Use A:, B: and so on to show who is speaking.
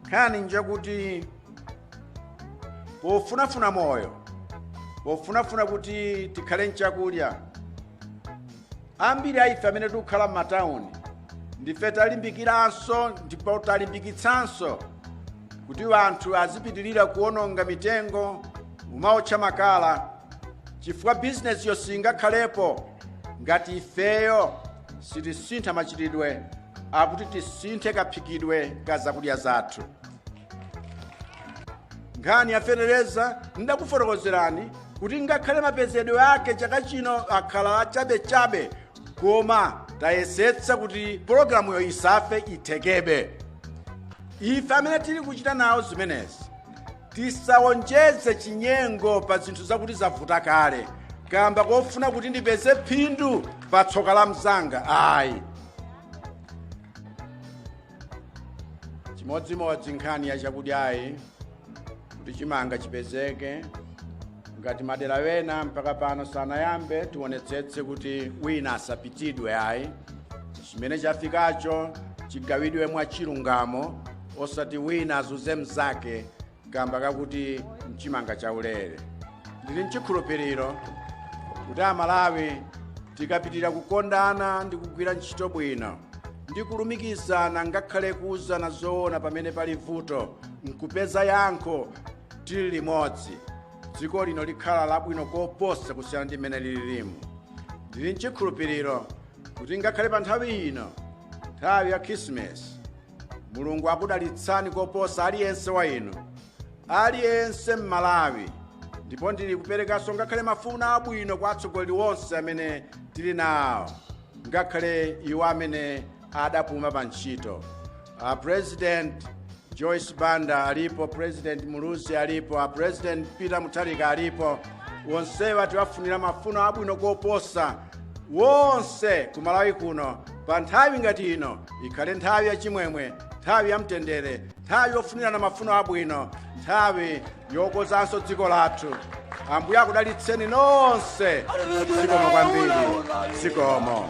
A: nkhani njakuti pofunafuna moyo pofunafuna kuti tikhale nchakulya ambiri aife amene tikukhala m'matawuni ndife talimbikiranso ndipo talimbikitsanso kuti anthu azipitirira kuononga mitengo kumaotcha makala chifukwa bizinesiyo singakhalepo ngati ifeyo sitisintha machitidwe akuti tisinthe kaphikidwe ka zakudya zathu nkhani ya fetereza ndakufotokozerani kuti ngakhale mapezedwe ake chaka chino akhala achabechabe koma tayesetsa kuti pologalamuyo isafe ithekebe ife amene tili kuchita nawo zimenezi Tisawonjeze chinyengo pa zinthu zakuti zavuta kale kamba kofuna kuti ndipeze phindu pa tsoka la mzanga ayi chimodzimodzi nkhani ya chakudyayi kuti chimanga chipezeke ngati madera wena mpaka pano sanayambe tionetsetse kuti wina asapitidwe ayi chimene chafikacho chigawidwe mwachilungamo osati wina azunze mzake kamba kakuti nchimanga chaulere ndili nchikhulupiriro kuti amalawi tikapitira kukondana ndi kugwira ntchito bwino ndi kulumikizana ngakhale kuuzana zoona pamene pali vuto nkupeza yankho tili limodzi dziko lino likhala labwino koposa kusiyana ndi mmene lililimu ndili nchikhulupiriro kuti ngakhale pa nthawi ino nthawi ya khirisimasi mulungu akudalitsani koposa aliyense wa inu aliyense mmalawi ndipo ndili kuperekanso ngakhale mafuno abwino kwa atsogoleri onse amene tili nawo ngakhale iwo amene adapuma pa ntchito a president joyce banda alipo president muluzi alipo a president peter mutharika alipo onsewa tiwafunira mafuno abwino koposa wonse ku malawi kuno pa nthawi ngati ino ikhale nthawi yachimwemwe nthawi yamtendere nthawi yofunirana mafuno abwino nthawi yokozanso dziko lathu ambuye akudalitseni nonse zikomo kwambiri zikomo